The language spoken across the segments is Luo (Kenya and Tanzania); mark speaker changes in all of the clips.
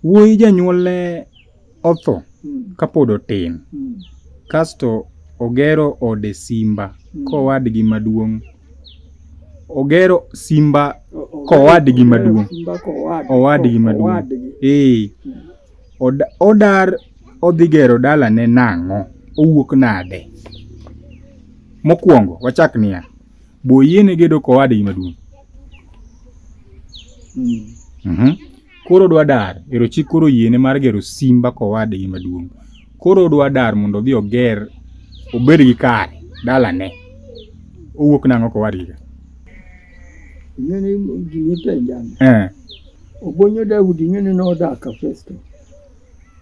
Speaker 1: Wuoyi janyuolne otho hmm. kapod otin hmm. kasto ogero ode Simba hmm. kowadgi maduong' ogero Simba kowadgi maduong' owadgi maduong' ee odar odhi gero dalane nang'o owuok nade mokwongo wachak niya boyiene gedo kowadgi maduong' mm -hmm. Koro odwa dar, ero chik koro yiene mar gero simba kowadgi maduong'. Koro odwa dar mondo odhi oger obed gi kare dalane. Owuok nang'o kowadgi ka? Ing'eni gini penjani. Eh. Obonyo Daudi ing'eni nodak ka Festo.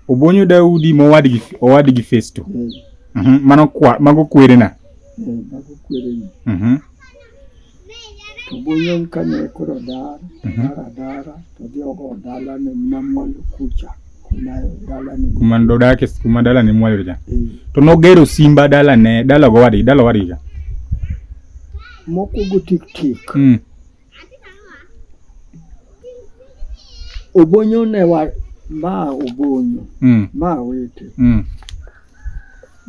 Speaker 1: Obonyo Daudi mowadgi owadgi Festo. Eh. Mhm. Mano kwa mago kwerena. Eh, mago kwerena. Mhm. to Goyen kane koro dar Mhm. dar adara to dhi ogo dalane namwalo kucha kuma dalane go- kuma dodake kuma dala ne mwalore cha Eh, to nogero simba dala ne dala gowadgi dala owadgi cha moko go tik tik mm. obonyo ne wa ma obonyo mm. ma wete mm.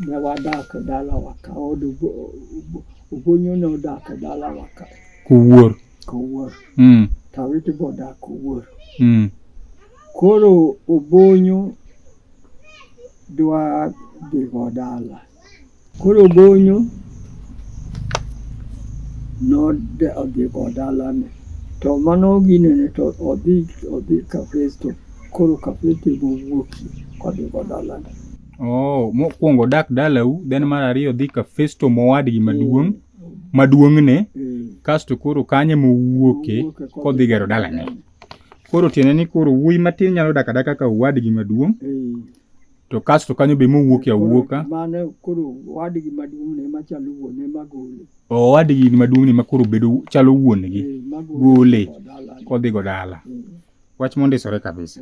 Speaker 1: ne wadak dalawa ka od obo- obo- Ogonyo ne odak e dalawa ka. Kowuor. Kowuor. Mm. Tawiti be odak Kowuor. Mm. Koro Obonyo dwa dhigo dala. Koro Obonyo nodhigo dalane. To mano ginene to odhi odhi Kafesto. Koro Kafesto emowuokie kodhigo dalane. Oh, mokwongo dak dalau, then mar ariyo dhi ka Festo mowadgi maduong' maduong'ne, kasto koro kanyo ema owuoke kodhi gero dalane. Koro tiende ni koro wuoyi matin nyalo dak adaka ka owadgi maduong' to kasto kanyo be mowuoke awuoka. Mano koro owadgi maduong'ne ema chalo wuone ema gole. Owadgi maduong'ne ema koro bedo chalo wuonegi, gole kodhigo dala. Wach mondisore kabisa.